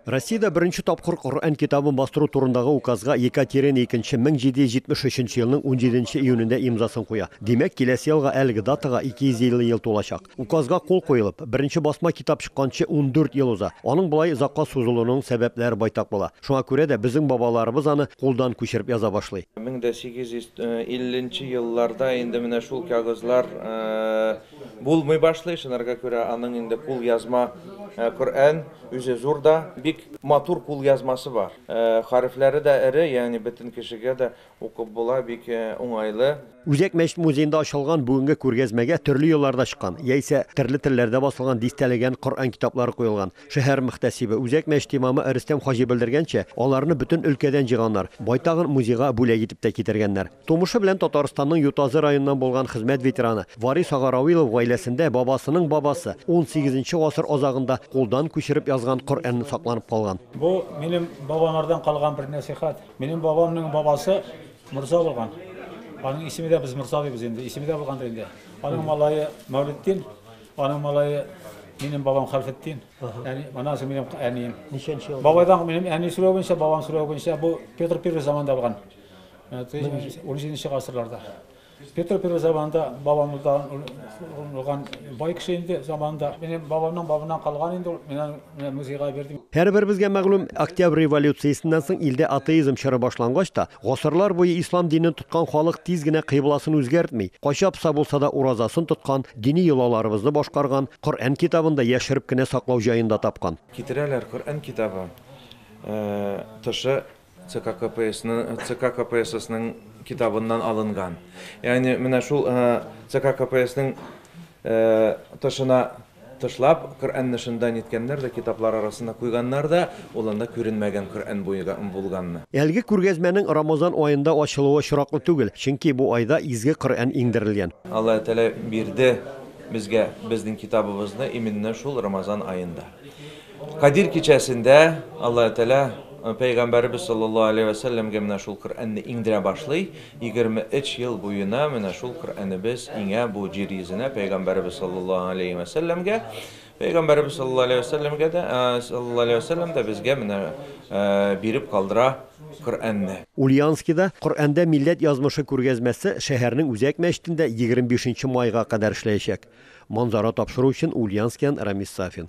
Россиядә беренче тапкыр Коръән китабын бастыру турындагы указга Екатерина II 1773 елның 17 июнендә имзасын куя. Димәк, киләсе елга әлеге датага 250 ел тулачак. Указга кул куелып, беренче басма китап чыкканчы 14 ел уза. Аның болай озакка сузылуының сәбәпләре байтак була. Шуңа күрә дә безнең бабаларыбыз аны кулдан күчереп яза башлый. 1850 нче елларда инде менә шул кәгазьләр Булмый башлый, шынарга күрә аның инде кул язма Коръән үзе зур да, бик матур кул язмасы бар. Хәрефләре дә эре, ягъни бөтен кешегә дә укып була, бик уңайлы. Үзәк мәчет музеенда ачылган бүгенге күргәзмәгә төрле елларда чыккан, яисә терле телләрдә басылган дистәләгән Коръән китаплары куелган. Шәһәр мөхтәсибе, Үзәк мәчет имамы Рөстәм хаҗи белдергәнчә, аларны бөтен өлкәдән җыйганнар, байтагын музейга бүләк итеп тә китергәннәр. Тумышы белән Татарстанның Ютазы районыннан булган хезмәт ветераны Варис ага Равилов гаиләсендә бабасының бабасы 18 нче гасыр азагында кулдан күчереп язган Коръәнне сакланып калган. Бу, минем бабамардан калган бер нәсыйхәт. Минем бабамның бабасы морза булган. Аның исеме дә без морза дибез инде, исеме дә булгандыр инде. Аның малае Мәүлетдин, аның малае минем бабам Хәлфетдин. Әни, моннан соң минем әнием. Ничәнче ел? Бабайдан минем әни сүрәвенчә, бабам сүрәвенчә бу Петр I заманында булган. Это унжиденче гасырларда. Петр Первый заманында бабамыздан урлаган бай кеше инде заманында. Минем бабамның бабыннан калган инде ул. Менә менә музейга бирдем. Һәрберебезгә мәгълүм, Октябрь революциясеннән соң илдә атеизм чоры башлангач та, гасырлар буе ислам динен тоткан халык тиз генә кыйбласын үзгәртми, кайчапса булса да уразасын тоткан, дини йолаларыбызны башкарган, Коръән китабын да яшереп кенә саклау җаен да тапкан. Китерәләр Коръән китабы тышы ЦК КПССның китабыннан алынган. Ягъни менә шул ЦК КПССның тышына тышлап, Коръәнне шында ниткәннәр дә, китаплар арасына куйганнар да, ул анда күренмәгән Коръән булганны. Әлеге күргәзмәнең Рамазан аенда ачылуы очраклы түгел, чөнки бу айда изге Коръән иңдерелгән. Аллаһы Тәгалә бирде безгә безнең китабыбызны именно шул Рамазан аенда. Кадир кичәсендә Аллаһ Тәгалә Пәйгамбәребез саллаллаһу алейһи вә сәлләмгә менә шул Коръәнне иңдерә башлый, 23 ел буена менә шул Коръәнебез иңә бу җир йөзенә Пәйгамбәребез саллаллаһу алейһи вә сәлләмгә. Пәйгамбәребез саллаллаһу алейһи вә сәлләмгә дә, саллаллаһу алейһи вә сәлләм дә безгә менә биреп калдыра Коръәнне. Ульяновскида Коръәндә милләт язмышы күргәзмәсе шәһәрнең үзәк мәчетендә 25 нче майга кадәр эшләячәк. Манзара тапшыру өчен Ульянскиан Рамис Сафин.